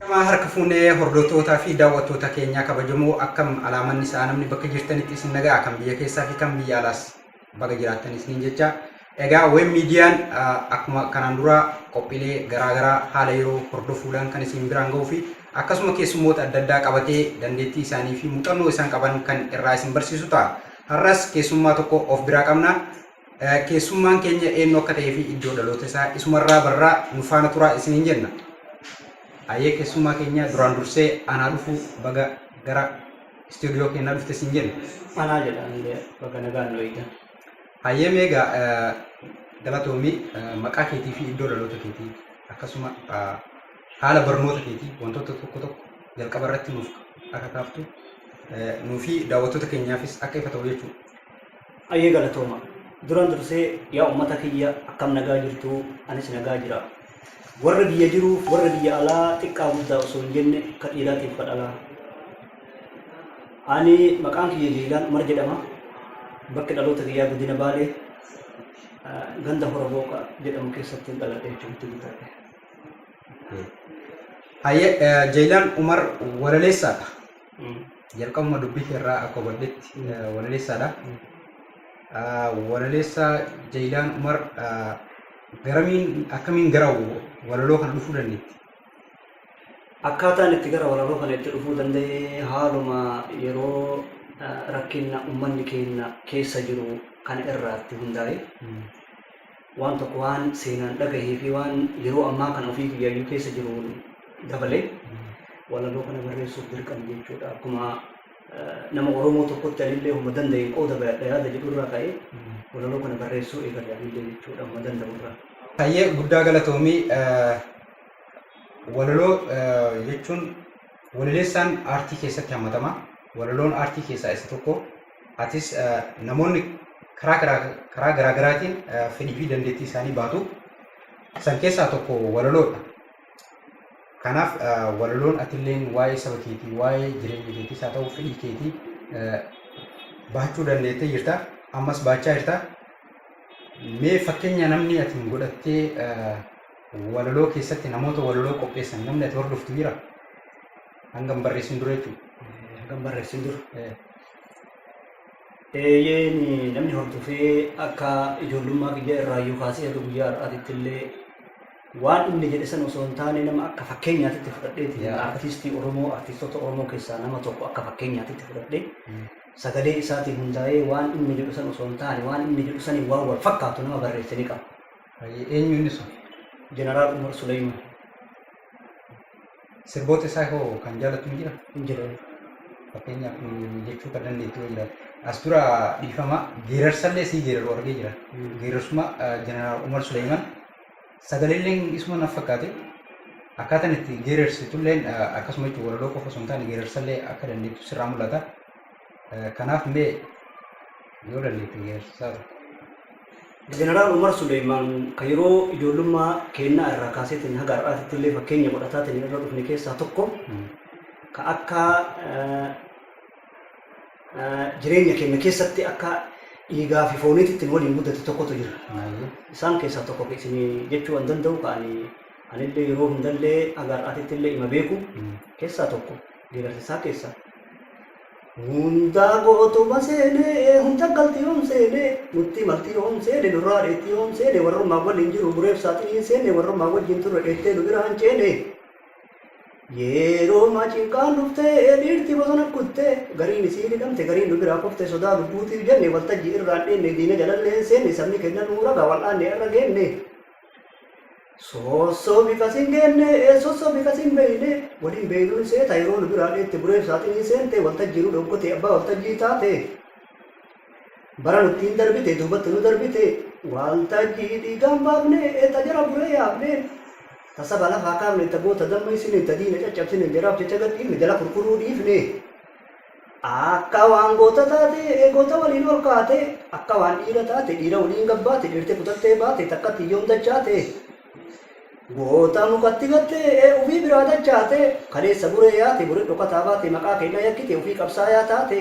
Eyyama harka fuune hordootoota fi daawwattoota keenyaa kabajamoo akkam alaamanni sa'a namni bakka jirtanitti isin nagaa kan biyya keessaa fi kan biyya alaas baga jiraattan isiniin jecha egaa web miidiyaan akkuma kanaan dura qophiilee garaa garaa haala yeroo hordofuudhaan kan isin biraan ga'uu fi akkasuma keessummoota adda addaa qabatee dandeettii isaanii fi muuxannoo isaan qaban kan irraa isin barsiisu ta'a. Har'as keessummaa tokko of biraa qabna. Keessummaan keenya eenyu akka ta'ee fi iddoo dhaloota isaa isumarraa barraa nu faana turaa isiniin jenna. Hayyee keessummaa keenya duraan dursee anaa dhufuu baga gara istuudiyoo keenyaa dhufte isin jenna. Anaa jedha illee bakka nagaan nu eegdan. Hayyee meegaa galatoomii maqaa keetii fi iddoo dhaloota keetii akkasuma haala barnoota keetii wantoota tokko tokko jalqaba irratti nuuf akka kaaftu nuufi daawwattoota keenyaafis akka ifa ta'u jechuudha. Hayyee galatooma. Duran dursee yaa ummata kiyya akkam nagaa jirtuu? Anis nagaa jira. Warra biyya jiruuf warra biyya alaa xiqqaa guddaa osoo hin jenne ka dhiiraatiif ka dhalaa. Ani maqaan kiyya Jiilaan Umar jedhama. Bakki dhaloota kiyyaa Godina Baalee ah, ganda Hora Booqa jedhamu keessatti hin dhaladhe jechuutti guddadhe. Hayyee eh, Jeeyilaan Umar walaleessaadha. Jalqabuma dubbii kee irraa akka hubadhetti walaleessaadha. Walaleessaa Jayilaan Umar garamiin akkamiin gara walaloo kana dhufuu dandeetti? Akkaataan itti gara walaloo kana itti dhufuu danda'e haaluma yeroo rakkinna ummanni keenya keessa jiru kana irraatti hundaa'e. Waan tokko waan seenaan dhagahee fi waan yeroo ammaa kana ofii kiyyaayyuu keessa jiruun dabalee walaloo kana barreessuuf dirqame jechuudha. Akkuma nama Oromoo tokkotti anillee homa danda'een qooda bayadha yaada jedhurraa ka'ee walaloo kana barreessuu eegale anillee jechuudha homa danda'urraa. Hayyee guddaa galatoomii walaloo jechuun Walaleessaan aartii keessatti hammatama. Walaloon aartii keessaa isa tokko. Atis namoonni karaa garaa karaa garaa garaatiin fedhii fi dandeettii isaanii baatu. San keessaa tokko walaloodha. Kanaaf walaloon atilleen waa'ee saba keetii, waa'ee jireenya keetiis haa ta'u fedhii keetii bahachuu dandeettee jirta. Ammas baachaa jirta. Mee fakkeenya namni atiin godhattee Walaloo keessatti namoota walaloo qopheessan namni ati hordoftu jira? Hanga hin barreessin dura jechuudha. Hanga hin barreessin dura. Eeyyeen namni hordofee akka ijoollummaa kiyya irraayyuu kaasee haga guyyaa har'aatitti illee waan inni jedhe san osoo hin taane nama akka fakkeenyaatitti fudhadheeti. Yaa. Artiistii Oromoo, artiistota Oromoo keessaa nama tokko akka fakkeenyaatitti fudhadhee sagalee isaatiin hundaa'ee waan inni jedhu san osoo hin taane waan inni jedhu saniin waan wal fakkaatu nama barreessanii qaba. Hayyee eenyu inni sun? Jeneraal Umar Suleeyman. Sirboota isaa hoo kan jaalattu ni jira? Hin jiru. Fakkeenyaaf mm, jechuu kan dandeettu yoo jiraate. As dura dhiifama geerarsallee sii geeraru argee jira. Geerarsuma eh, Jeneraal Umar Suleeyman sagaleen isuma naf fakkaate. Akkaataan itti geerarsitulleen eh, akkasuma jechuun walaloo qofa osoo hin taane geerarsallee akka dandeettu sirraa mul'ata. Kanaaf mee yoo dandeettan geerarsisaa dhufu. Jeneraal Umar Suleymaan kan yeroo ijoollummaa keennaa irraa kaaseetiin haga har'aatitti illee fakkeenya godhataatiin irra dhufne keessaa tokko ka akka jireenya keenya keessatti akka dhiigaa fi fooniitti ittiin waliin guddate tokkotu jira. Isaan keessaa tokko ka isin jechuu waan danda'u ka ani anillee yeroo hundallee haga har'aatitti illee ima beeku keessaa tokko. Geerarsasaa keessaa. Hundaa gootuma seenee, hunda galti yoom seenee, nuttii malti yoom seene, nurraa dheetti yoom seene, warrummaan waliin jiru bureef saaxinii hin seenne, warrummaan wajjin turre dheettee nu biraa hin ceene. Yeeroomaa cinqaan dhuftee, dhiirti bosona kuttee, gariin isiin hidhamte, gariin nu biraa kufte, sodaa lubbuutiif jenne, waltajjii irraan dheenne, diina jalallee hin seenne, sabni keenna nuu raga, wal'aannee har'a geenne. Soossoo bifa sin geenne ee sossoo bifa sin beeyne waliin beeynuu hin seeta yeroo nu biraa dheette bureef saaxinii seente waltajjii nu dhokkotee abbaa waltajjii taate bara nutti hin darbite duubatti nu darbite waaltajjii dhiigaan baafne ee ta jara buree yaafne ta saba lafaa kaafne ta goota damma isine ta diina caccabsine jaraaf jecha gadhiifne jala kurkuruu dhiifne Akka waan goota taate goota waliin ol kaate, akka waan dhiira taate dhiira waliin gad baate, dheerte kutattee baate takkatti yoom dachaate. Goota mukatti gatte ufii biraa dachaate, kaleessa buree yaate bure dhokataa baate maqaa keenya yakkite ufii qabsaayaa taate.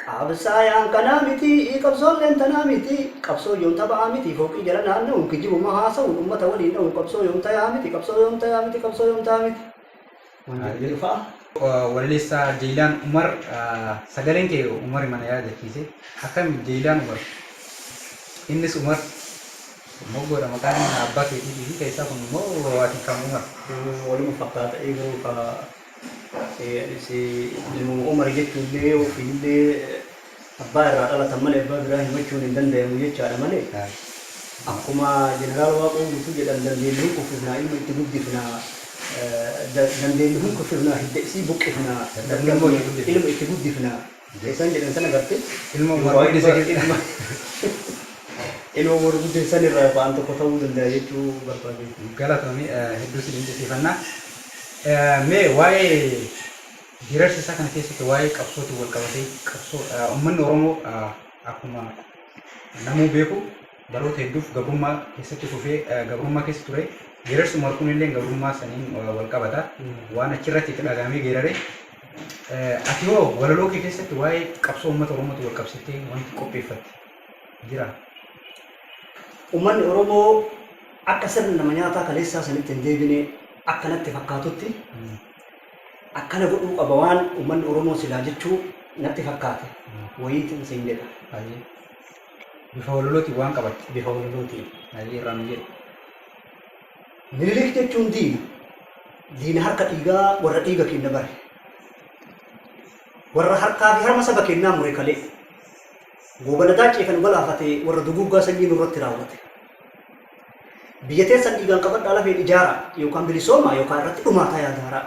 Qabsaayaan kanaa miti, qabsoolleen tanaa miti, qabsoo yoom taphaa miti, fooqii jala naanna'uun kijibuma haasa'uun ummata waliin dha'uun qabsoo yoom tayaa miti, qabsoo yoom tayaa miti, qabsoo yoom tayaa miti. Walaleessaa Jeeylaan Umar Sagaleen kee Umarima na yaadachiise Akkami Jeeylaan Umar Innis Umar Moggoodha maqaan abbaa keetiitiifi keessaa kun immoo ati kam Umar? Waluma fakkaata ee garuu kaa anis nama Umar jechuullee ofiillee Abbaa irraa dhalatan malee abbaa biraa himachuun hin dandayamu jechaadha malee akkuma Jeneraal Waaqoo Guutuu jedhan dandeennu hin kuffifnaa ilma itti guddifna dandeennu hin kuffifnaa hidda isii buqqifna dadhabne ilma itti guddifna isaan jedhan san agartee duwwaa ilma ilma ilma warri guddin san irraa yookaan an tokko ta'uu dandaya jechuu barbaadeen. Galatoomi hedduu si dinqisiifanna. Mee waa'ee Geerarsa isaa kana keessatti waa'ee qabsootiin walqabatee qabsoo ummanni Oromoo akkuma namuu beeku baroota hedduuf gabrummaa keessatti kufee gabrummaa keessa ture. Geerarsi Umar kunillee gabrummaa saniin walqabata. Waan achirratti itti dhagahamee geerare. Ati hoo walaloo kee keessatti waa'ee qabsoo uummata Oromootiin walqabsiiftee wanti qopheeffatte jira? Ummanni Oromoo akka sirna nama nyaataa kaleessaa sanitti hin deebine akka natti fakkaatutti Akkana godhuu qaba waan ummanni Oromoo silaa jechuu natti fakkaate wayiitin siin jedha. Hayyee. Bifa walalootiin waan qabatte. Bifa walalootiin. Hayyee irraa nu jedhi. Minilik jechuun diina. Diina harka dhiigaa warra dhiiga keenya bare. Warra harkaa fi harma saba keenyaa mure kalee. Goobana daaccee kan galaafate warra duguuggaa sanyii nurratti raawwate. Biyya teessan dhiigaan qabadhaa lafeen ijaaraa yookaan bilisoomaa yookaan irratti dhumaataa yaa gaaraa.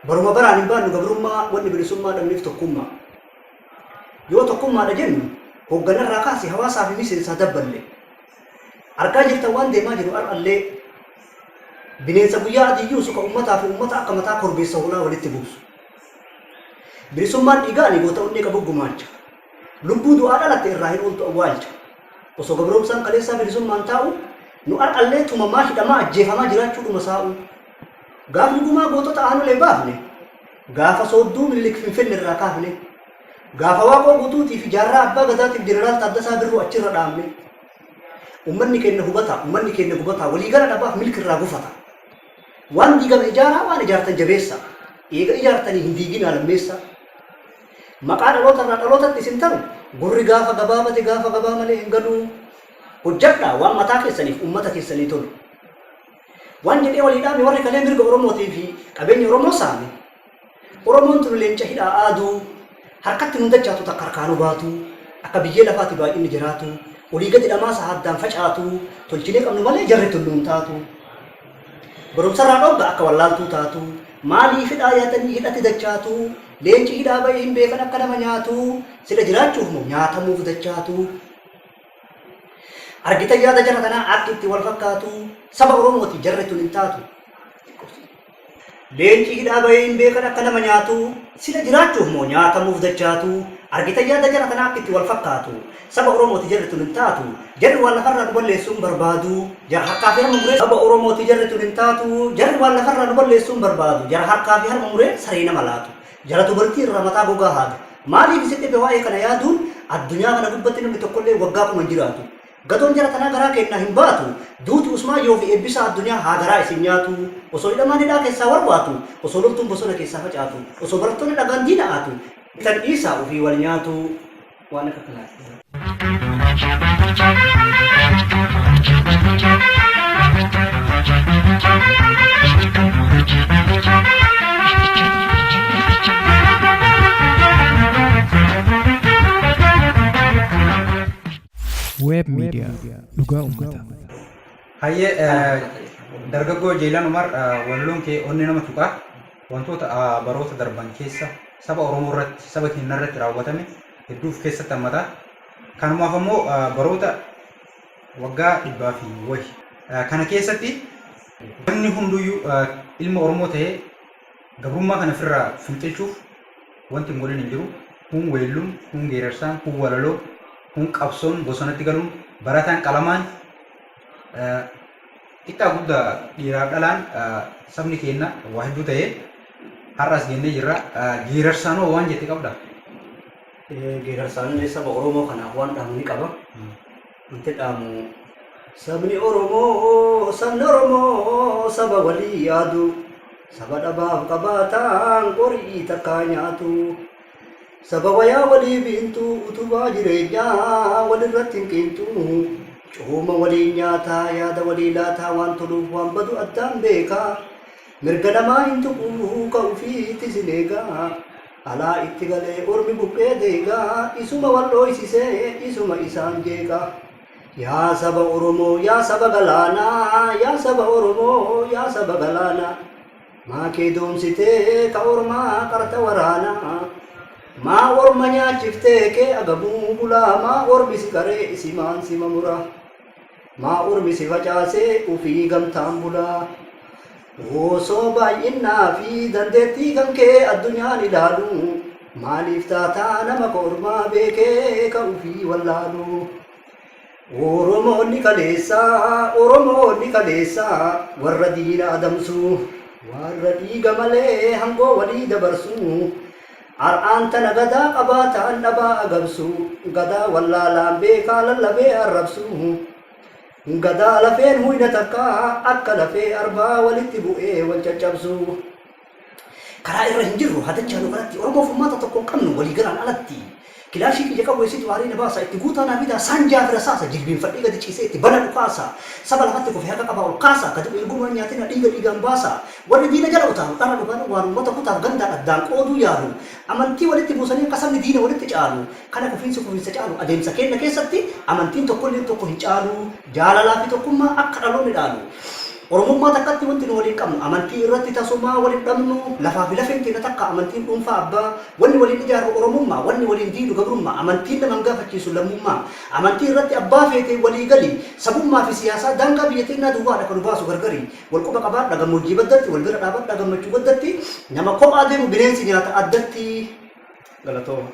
Baruma baraan hin baannu gabrummaa wanni bilisummaa dhabneef tokkummaa. Yoo tokkummaadha jennu hoogganarraa kaase hawaasaa fi miseensaa dabballe. Argaa jirtan waan deemaa jiru har'allee bineensa guyyaa adii yuusu kan ummataa fi ummata akka mataa korbeessa hoolaa walitti buusu. Bilisummaan dhiigaanii goota onnee qabu gumaacha. Lubbuu du'aa dhalatte irraa hin ooltu awwaalcha. Osoo gabroomsaan kaleessaa bilisummaan taa'uu, nu ar'allee tumamaa, hidhamaa, ajjeefamaa jiraachuu dhuma saa'uu. Gaafni gumaa gootota Aanolee baafne, gaafa soodduu Minilik Finfinne irraa kaafne, gaafa Waaqoo Guutuutii fi Jaarraa Abbaa Gadaatiif Jeneraal Taaddasaa Birruu achirra dhaabne. Ummanni keenna hubataa, ummanni keenna gubataa, walii gala dhabaaf milki irraa gufataa. Waan diigame ijaaraa, waan ijaartan jabeessaa. Eega ijaartanii hin diiginaa lammeessaa. Maqaa dhaloota irraa dhalootatti isin taru gurri gaafa gabaabate gaafa gabaa malee hin galuu. Hojjadhaa waan mataa keessaniif uummata keessanii tolu. Waan jedhee walii dhaame warri kalee mirga Oromootii fi qabeenya Oromoo saame. Oromoon tun leenca hidhaa aaduu harkatti nun dachaatu takka harkaa nu baatu akka biyyee lafaati baay'inni jiraatu olii gadi dhamaasa haddaan facaatu tolchinee qabnu malee jarri tun nuun taatu. Barumsarraa dhoogga akka wallaaltuu taatu Maaliif hidhaa yaatanii hidhatti dachaatu Leenci hidhaa ba'ee hin beekan akka nama nyaatu Sila jiraachuuf moo nyaatamuuf dachaatu Argitan yaada jara kanaa akki itti wal fakkaatu Saba Oromootiif jarri tun hin taatu Leenci hidhaa bahee hin beekan akka nama nyaatu, sila jiraachuuf moo nyaatamuuf dachaatu? Argitan yaada jara tanaa akka itti wal fakkaatu. Saba Oromooti jarri tun hin taatu. Jarri waan lafarraa nu balleessuu hin barbaadu. Jara harkaa fi harma muree. Saba Oromooti jarri tun hin taatu. Jarri waan lafarraa nu balleessuu hin barbaadu. Jara harkaa fi harma muree saree nama laatu. Jara dubartii irraa mataa gogaa haadu. Maaliif isin dhibe waa'ee kana yaaduun? Addunyaa kana gubbatti namni tokkollee waggaa kuma hin jiraatu. Gatoon jara tanaa garaa keennaa hin baatu duuti usmaan yoo fi eebbisaa addunyaa haa garaa isin nyaatu osoo hidhamaan hidhaa keessaa warwaatu osoo loltuun bosona keessaa facaatu osoo barattoonni dhagaan diina aatu tan dhiisaa ufii wal nyaatu waan akka kanaati. Web Media Dhugaa Ummata. Hayyee eh, dargaggoo Jeelan Umar eh, walaloon kee onnee nama tuqaa wantoota ah, baroota darban keessa saba Oromoo irratti saba keenya irratti raawwatame hedduu of keessatti hammata. Kanumaaf ammoo ah, baroota waggaa dhibbaa fi wahi. Eh, Kana keessatti namni hunduyyuu eh, ilma Oromoo ta'ee Gabrummaa kana firraa fincichuuf wanti hin godhin hin jiru. Kuun weellun, kuun geerarsaan, kuun walaloo, kuun qabsoon bosonatti galuun, barataan qalamaan, xiqqaa guddaa dhiiraaf dhalaan sabni keenna waa hedduu ta'ee har'a as geennee jirra. Geerarsaan hoo waan jette qabda? Geerarsaan saba Oromoo kanaaf waan dhahamu ni qaba. Wanti dhaamu sabni Oromoo sabni Oromoo saba walii yaadu saba dhabaaf qabaataan qorii takkaa nyaatu saba wayaa walii biintu utubaa jireenyaa walirratti hin qiinxu cooma waliin nyaataa yaada walii laataa waan toluuf waan badu addaan beekaa Mirga namaa hin tuqu ka ufiitis hin eega Alaa itti galee ormi buqqee deega Isuma wal dhooysisee isuma isaan jeeqa Yaa saba oromoo yaa saba galaana Yaa saba oromoo yaa saba galaana Maa kee doomsitee ka ormaa qarta waraana Maa orma nyaachiftee kee agabuu bula Maa ormi si qaree isimaan sima mura Maa ormi si facaasee ufii gamtaan bulaa? Osoo baay'innaa fi dandeettii kan kee addunyaan ilaalu maaliif taataa nama ka ormaa beekee ka ufii wallaalu? Oromoonni kaleessaa Oromoonni kaleessaa warra diina adamsu warra dhiiga malee hangoo walii dabarsu Ar'aan tana gadaa qabaataan dhabaa agabsu, gadaa wallaalaan beekaa lallabee arrabsu, gadaa lafeen huyna takkaa akka lafee arbaa walitti bu'ee wal caccabsu. Karaa irra hin jirru, hatachaa nu garatti, Oromoof furmaata tokko hin qabnu, waliigalaan alatti. Kilaashii kiyya qawweessituu aarii na baasaa itti guutaa naa fidaa saanjaa fi rasaasa jilbiinfadhee gadi ciisee itti bana dhukaasa saba lafatti kufe harka qabaa ol kaasaa ka du'e hin gumaa hin nyaatinaa dhiiga dhiigaan baasaa warri diina jala utaalu dhara dhugaadhan waan uummata kutaaf gandaan addaan qooduu yaalu amantii walitti buusanii akka sabni diina walitti caalu kana kufiinsi kufiinsa caalu adeemsa keenna keessatti amantiin tokkolleen tokko hin caalu jaalalaa fi tokkummaa akka dhaloonni dhaalu Oromummaa takkatti wanti nu waliin qabnu amantii irratti tasumaa wal hin dhabnu, lafaa fi lafeen teenna takka, amantiin dhuunfaa abbaa, wanni waliin ijaarru Oromummaa, wanni waliin diidu gabrummaa, amantiin nama hin gaafachiisu lammummaa, amantii irratti abbaa feete walii gali, sabummaa fi siyaasaa daangaa biyya teennaa duwwaa dha ka nu baasu gargari, wal quba qabaadha gammoojjii baddatti, wal bira dhaabadha gammachuu gaddatti, nama kophaa deemu bineensi nyaata addatti. Galatooma.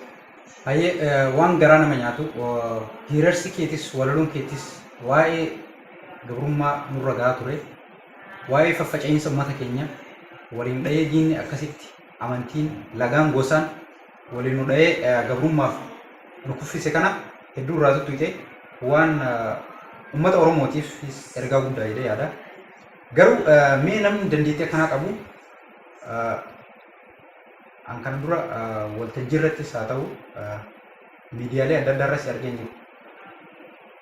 Hayyee waan garaa nama nyaatu. Geerarsi keetis, walaloon keetis waa'ee. gabrummaa nurra gahaa ture waa'ee faffaca'iinsa ummata keenya waliin dha'ee diinni akkasitti amantiin lagaan gosaan waliin nu dha'ee gabrummaaf nu kuffise kana hedduu irraa tuttuqxe waan ummata oromootiif ergaa guddaa jedhee yaada garuu mee namni dandeettii akkanaa qabu an kana dura waltajjii irrattis haa ta'u miidiyaalee adda addaa irratti argeen jiru.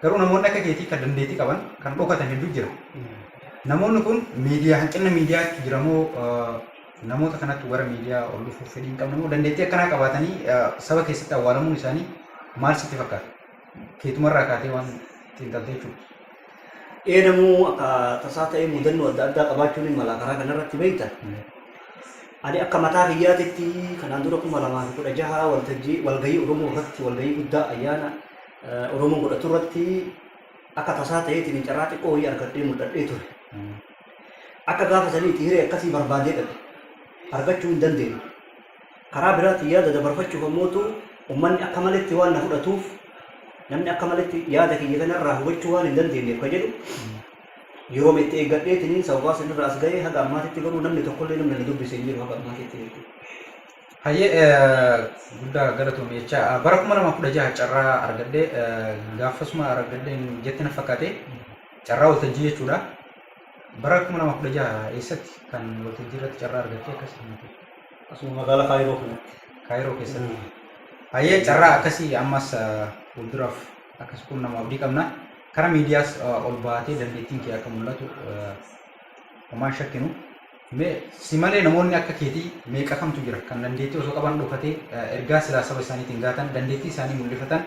Garuu namoonni akka keetii kan dandeettii qaban kan dhokatan hedduu jira. Namoonni kun miidiyaa hanqina miidiyaatti jira moo eh, namoota kanatti gara miidiyaa ol dhufuuf fedhii hin qabne moo dandeettii akkanaa qabaatanii eh, saba keessatti awwaalamuun isaanii maal sitti fakkaata? Keetumarraa kaatee waan xiinxaltee jechuudha. ee namuu akka tasaa ta'ee mudannoo adda addaa qabaachuun hin mala karaa kanarratti beekta. Ani akka mataa kiyyaatitti kanaan dura kuma lamaa fi kudha jaha waltajjii walgahii Oromoo irratti walgahii guddaa ayyaana eh, Oromoo godhatu irratti akka tasaa ta'eetiin carraa xiqqoo wayii argadhee mul'adhee ture. Akka gaafa saniitti hiree akkasii barbaadee dhabe argachuu hin dandeenye. Karaa biraatiin yaada dabarfachuuf ammootu ummanni akka maletti waan na fudhatuuf namni akka maletti yaada kiyya kanarraa hubachuu waan hin dandeenyeef ka jedhu yeroo itti eeggadheetiniin sababaa sanirraa as ga'ee haga ammaatitti garuu namni tokkollee namni na dubbise hin jiru haga ammaatitti jechuudha. Hayyee eh, guddaa galatoomi jecha ah, bara kuma lama kudha jaha carraa argadhee eh, gaafasuma argadheen jetti na fakkaate carraa waltajjii jechuudha. Bara 2016 eessatti kan waltajjii irratti carraa argattee akkas himte? Asuma magaalaa Kaayiroo kanatti. Kaayiroo keessatti. Hayyee carraa akkasii ammas fuulduraaf akkas kun nama abdii qabna. Kara miidiyaas ol baatee dandeettiin kee akka mul'atu homaan shakkinu. Mee si malee namoonni akka keetii meeqa kamtu jira kan dandeettii osoo qaban dhokatee ergaa silaa saba isaaniitiin gaatan dandeettii isaanii mul'ifatan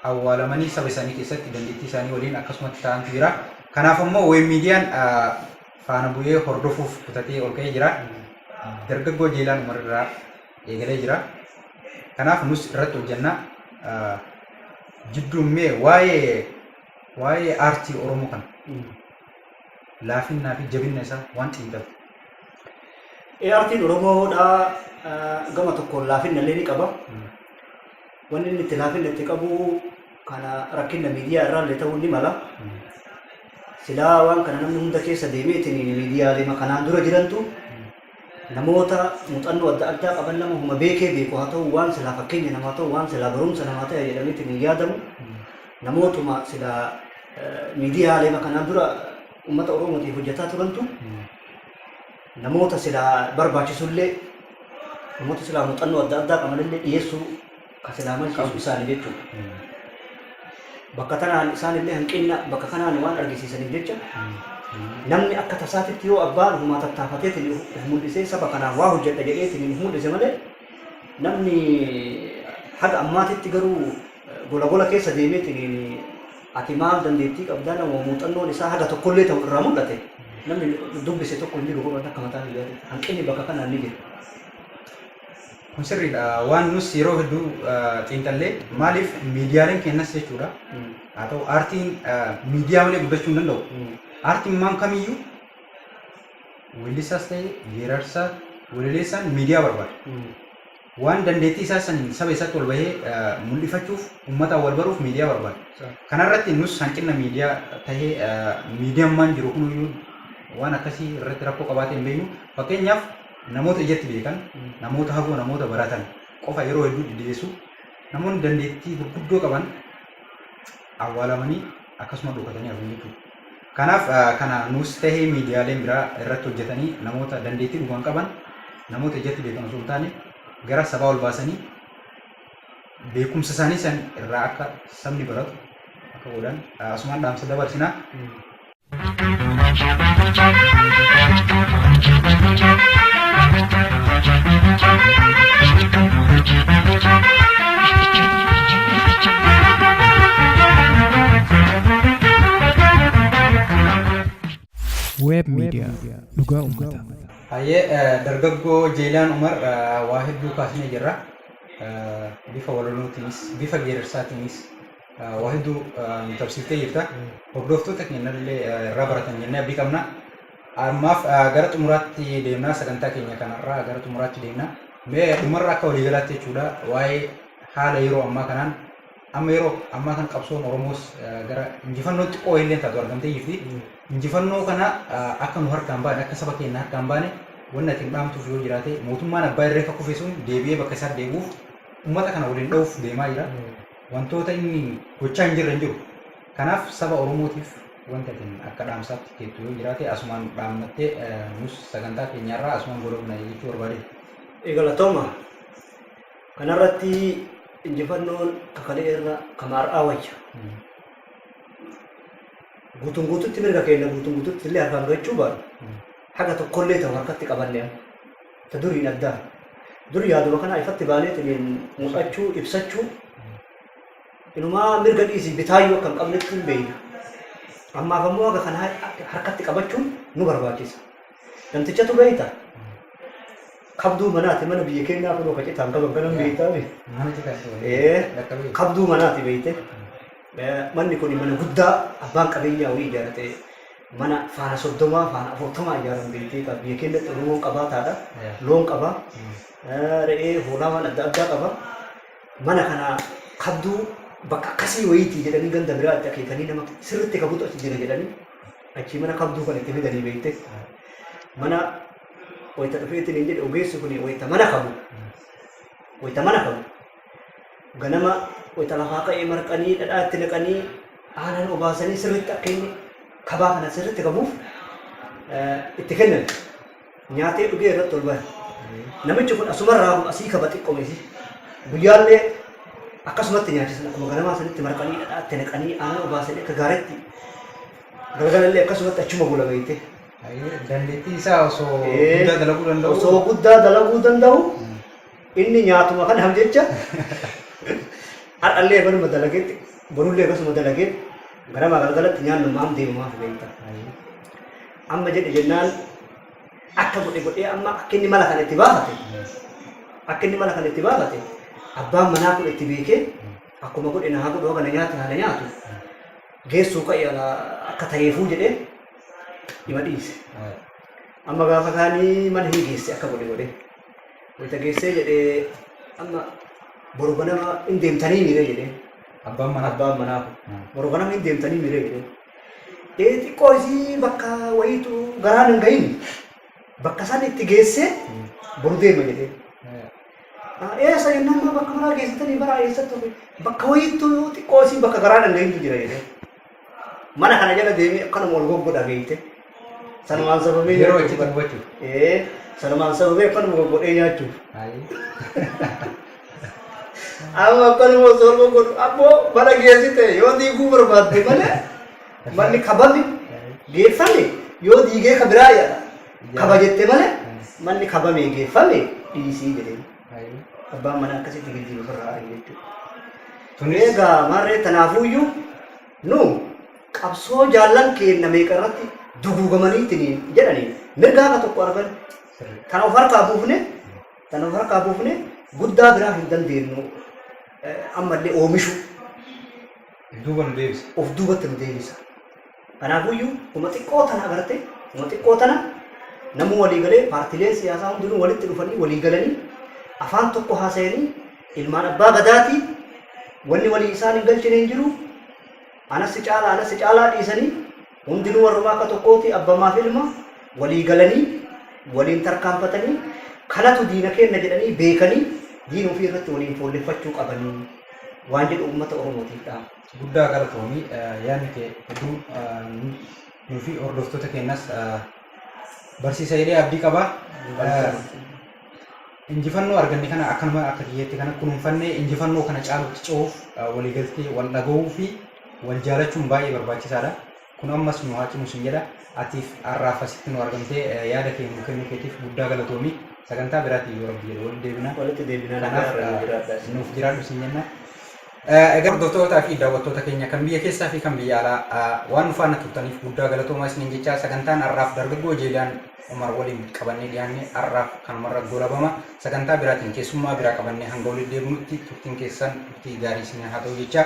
awwaalamanii saba isaanii keessatti dandeettii isaanii waliin akkasumatti ta'antu jira. Kanaaf ammoo Wayne Miidiyaan faana bu'ee hordofuuf kutatee ol ka'ee jira. Dargaggoo Jeelaan Umar irraa eegalee jira. Kanaaf nus irratti hojjenna. Jidduun mee waa'ee waa'ee aartii Oromoo kana laafinnaa fi jabinna isaa waan xiinxalu. Ee artiin Oromoodhaa gama tokkoon laafinna illee ni qaba. Wanni inni itti laafinna itti qabu kana rakkinna miidiyaa irraa illee ta'uu ni mala. Silaa waan kana namni hunda keessa deemeetiin miidiyaalema kanaan dura jirantu Namoota muxannoo adda addaa qaban nama huma beekee beeku haa ta'uu waan silaa fakkeenya namaa ta'u waan silaa barumsa namaa ta'e jedhameetiin hin yaadamu. Namootuma silaa miidiyaaleema kanaan dura uummata Oromootiif hojjetaa turantu namoota silaa barbaachisullee namoota silaa muuxannoo adda addaa qabanillee dhiyeessuu ka silaa mancaasu isaani jechuun bakka tanaan isaan illee hanqinna bakka kanaan waan argisiisaniif jecha namni akka tasaatitti yoo abbaan humaa tattaafateetiin of of mul'isee saba kanaan waa hojjedha jedheetiin of mul'ise malee namni haga ammaatitti garuu eh, gola gola keessa deemeetiin ati maal dandeettii qabdaa nama muuxannoon isaa haga tokkollee ta'u irraa mul'ate namni dubbise tokko hin jiru godhan akka mataa biyyaatti hanqinni bakka kanaan ni jira. Kun sirriidha. Waan nus yeroo hedduu xiinxallee maaliif miidiyaaleen keenyas jechuudha. Haa ta'u aartiin miidiyaa malee guddachuu hin danda'u. Aartiin maam kamiyyuu weellisaas ta'e geerarsaa walaleessaan miidiyaa barbaada. Waan dandeettii isaa saniin saba isaatti wal bahee mul'ifachuuf uummataan wal baruuf miidiyaa barbaada. Kanarratti nus hanqina miidiyaa ta'ee miidiyaan maan jiru kuniyyuu waan akkasii irratti rakkoo qabaatee hin beeknu. Fakkeenyaaf Namoota ijatti beekan, namoota hagoo namoota baratan qofa yeroo hedduu diddigeessu. Namoonni dandeettii gurguddoo qaban awwaalamanii akkasuma dhokatanii hafu jechuudha. Kanaaf kana nuus tahee miidiyaaleen biraa irratti hojjetanii namoota dandeettii dhugaan qaban namoota ijatti beekan osoo hin taane gara sabaa ol baasanii beekumsa isaanii san irraa akka sabni baratu akka godhan asumaan dhaamsa dabarsina. Web Media Dhugaa Uummataa. Hayyee dargaggoo Jeelaan Umar waa hedduu kaasnee jirra. Bifa walalotiinis, bifa geerarsaatiinis Waa hedduu nu taphsiiftee jirta. Hordoftoota keenyallee irraa baratan jennee abdii qabna. Ammaaf gara xumuraatti deemnaa sagantaa keenya kanarraa gara xumuraatti deemna. Mee dhumarra akka waliigalaatti jechuudha waa'ee haala yeroo ammaa kanaan amma yeroo ammaa kan qabsoon Oromoos gara injifannoo xiqqoo illee taatu argamtee jirti. Injifannoo kana akka nu harkaan baane akka saba keenya harkaan baane wanni ati hin dhaamtuuf yoo jiraate mootummaan abbaa irree akka kufe sun deebi'ee bakka isaatti deebi'uuf uummata kana waliin dha'uuf deemaa jira. Wantoota inni gochaa hin jirre hin jiru. Kanaaf saba Oromootiif wanti ati akka dhaamsaatti keettu yoo jiraate asumaan dhaammattee nus sagantaa keenya irraa asumaan goolabna jechuu barbaadee. Galatooma. Kanarratti injifannoon kakalee irra kama har'aa wayya. Guutuun guututti mirga keenya guutuun guututti illee harkaan gahachuu baannu haga tokkollee ta'u harkatti qabannee Ta duriin adda. Dur yaaduma kanaa ifatti baaneetiniin mul'achuu, ibsachuu, inumaa mirga dhiisii bitaayyuu akka hin qabnetti hin beeyna. Ammaaf ammoo haga kana har- harkatti qabachuun nu barbaachisa. Namtichatu beeyta. Qabduu manaati mana biyya keenyaa kunoo kacitaan qaban kanan beeytaa beekta. Mana cita sih. Ee, Dekat ni. qabduu manaati beeyte. Manni kun mana guddaa abbaan qabeenyaa wayii ijaarate mana faana soddomaa faana afurtamaa ijaaran beektee egaa biyya keenyatti Oromoon qabaataadha. Loon qaba. Re'ee hoolaa waan adda addaa qaba. Mana kana kabduu bakka akkasii wayiitii jedhanii ganda biraatti akeekanii nama sirriitti kabutu achi jira jedhanii achii mana kabduu kan itti fidanii beekte. Mana wayita dhufeetiin hin jedhe ogeessi kun wayita mana kabu wayita mana kabu Ganama wayita lafaa ka'ee marqanii dhadhaa itti naqanii aanan obaasanii sirriitti akka inni kabaa kana sirriitti qabuuf itti kennan. Nyaatee dhugee irratti ol bara. Namichi kun asumarraa asii kaba xiqqoomesi. Guyyaallee akkasumatti nyaachisan akkuma ganamaa sanitti marqanii dhadhaa itti naqanii aanan obaasanii akka gaariitti galgalallee akkasumatti achuma bula beekte. Dandeettii isaa osoo guddaa dalaguu danda'u. Osoo guddaa dalaguu danda'u Inni nyaatuma kanaaf jecha har'allee baruma dalageetti borullee akkasuma dalageetti ganamaa galgalatti nyaannu maam deemumaaf beekta. Amma jedhe jennaan akka godhe godhee amma akka inni mala kana itti baafate akka inni mala kana itti baafate abbaan manaa kun itti beekee akkuma godhe naa godhu akka na nyaatu naa na nyaatu geessuu ka'e akka ta'eefuu jedhee ima dhiise. Amma gaafa kaanii mana hin geesse akka godhe godhee. Wayita geessee jedhee amma boru ganama hin deemtanii miiree jedhee. Abbaan manaa. Abbaan manaa kun boru ganama hin deemtanii miiree jedhee. Ee xiqqoo isii bakka wayiitu garaan hin gahin bakka isaan itti geessee boru deema jedhee. Eessa jennaan bakka maraa geessitanii bara eessatti bakka wayiitu xiqqoo isii bakka garaan hin gahintu jira jedhee. Mana kana jala deemee akkanuma wal goggodha beekte. Sanumaan sababee Yeroo nyaachuu itti bara. dubbachuu. Ee, sanumaan sababee akkanuma goggodhee nyaachuuf. Amma akkanuma osoo wal goggodhu ammoo mana geessite yoo diiguu barbaadde malee manni kabame geeffame yoo diigee ka biraa jedha. Kaba jette malee manni kabame geeffame dhiisii jedhee. Abbaan manaa akkasitti gilgii ofirraa ari'u jechuudha. Tuni egaa maarree tanaafuuyyuu nu qabsoo jaallan keenna meeqa irratti duguugamaniitiin jedhanii mirga haqa tokko argan tana of harkaa buufne tana of harkaa buufne guddaa biraa hin dandeenyu ammallee oomishuu. Duuba nu deebisa. Of duubatti nu deebisa. Kanaafuyyuu homa xiqqoo tana agartee homa xiqqoo tana namuu walii galee paartileen siyaasaa hundinuu walitti dhufanii walii galanii afaan tokko haasayanii ilmaan abbaa gadaatii wanni walii isaan hin galchine hin jiru anas si caalaa anas si caalaa dhiisanii hundinuu warrumaa akka tokkooti abbamaaf ilma walii galanii waliin tarkaanfatanii kanatu diina keenna jedhanii beekanii diina ofii irratti waliin foolleffachuu qabanii waan jedhu uummata Oromootiif dhaama. Guddaa galatoomi yaadni kee hedduu nuufi hordoftoota keenyas barsiisa jedhee abdii qaba. Injifannoo arganne kana akkanuma akka kiyyeetti kana kunuunfannee injifannoo kana caalutti ce'uuf waliigaltee wal dhaga'uu fi wal jaalachuun baay'ee barbaachisaadha. Kun ammas nu haa cimu sin jedha. Atiif har'aaf asitti nu argamtee yaada kee nuu kennuu keetiif guddaa galatoomi. Sagantaa biraatiin yoo Rabbi jedhe walitti deebina. Walitti deebina, nagaa Kanaaf irraa nu jiraadhaa isin. nuuf jiraadhu sin jenna. Egaa hordoftootaa fi daawwattoota keenya kan biyya keessaa fi kan biyya alaa waan nu faana turtaniif guddaa galatoomaa isiniin jechaa sagantaan har'aaf dargaggoo Jeelaan Umar waliin qabannee dhiyaanne har'aaf kanumarra goolabama. Sagantaa biraatiin keessummaa biraa qabannee hanga walitti deebinutti turtiin keessan turtii gaarii isin haa ta'u jechaa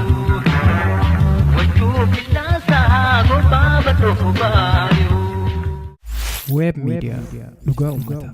Web Media Dhugaa Uummataa.